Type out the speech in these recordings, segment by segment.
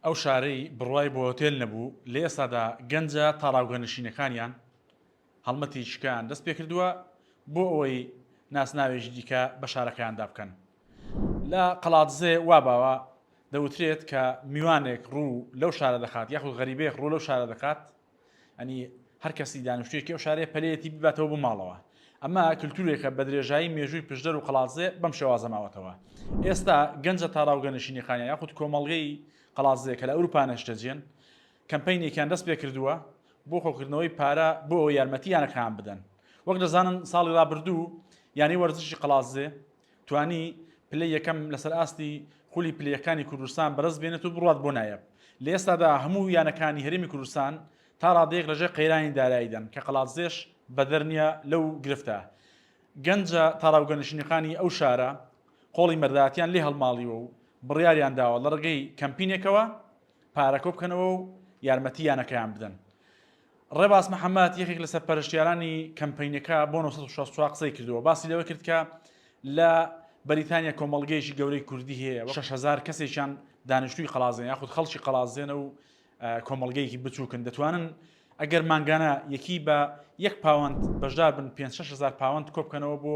ئەو شارەی بڕوای بۆ هۆتێل نەبوو، لە ئێستادا گەنجە تاڵاوگەنشینەکانیان هەڵمەتی شکۆیان دەستپێکردووە بۆ ئەوەی ناسناوێکی دیکە بە شارەکەیاندا بکەن. لە قەڵادزێ وا باوە، دەوترێت کە میوانێک ڕوو لەو شارە دەخات یاخود غەریبەیەک ڕوو لەو شارە دەکات، یانی هەر کەسی دانیشتوویەکی ئەو شارەیە پەلەیەتی بباتەوە بۆ ماڵەوە ئەمە کللتورێکە بە درێژایی مێژووی پشدەر و قەڵازێ بەم شێوازە ماوەتەوە ئێستا گەنجە تاراوگە نشینی خانە یاخود کۆمەڵگەی قەڵازێ کە لە ئەوروپا نەشتەجێن کەمپینێکیان دەست پێ کردووە بۆ خۆکردنەوەی پارە بۆ یارمەتیانەکان بدەن وەک دەزانن ساڵی رابردوو یانی وەرزشی قەڵازێ توانی پلەی یەکەم لەسەر ئاستی خولی پلەکانی کوردستان بەرز بێنێت و بڕوات بۆ نایەب لە ئێستادا هەموو یانەکانی هەرێمی کوردستان تا ڕادەیەک لەژێ قەیرانی داراییدان کە قەڵادزێش بەدەر نییە لەو گرفتە گەنجە تاراوگەنشینەکانی ئەو شارە قۆڵی مەرداتیان لێ هەڵماڵیوە و بڕیاریان داوە لە ڕگەی کەمپینێکەوە پارەکۆ بکەنەوە و یارمەتی یانەکەیان بدەن ڕێباز محەمەد یەکێک لە سەرپەرشتیارانی کەمپەینەکە بۆ 964 قسەی کردووە باسی لەوە کرد کە لە بەریتانیا کۆمەڵگەیەکی گەورەی کوردی هەیە 6هزار کەسێکیان دانیشتوی قەڵازێن یاخود خەڵکی قەڵازێنە و کۆمەڵگەیەکی بچووکن دەتوانن ئەگەر مانگانە یەکی بە یەک پاوەند بەشدار بن 5 هزار پاوەند کۆبکەنەوە بۆ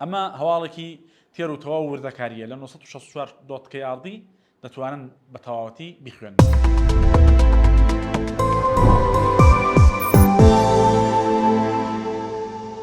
ئەمە هەواڵێکی تێر و تەواو وردەکارییە لە نۆ سەد و شەست و چوار دۆت کەی ئاڕدی دەتوانن بە تەواوەتی بیخوێننەوە.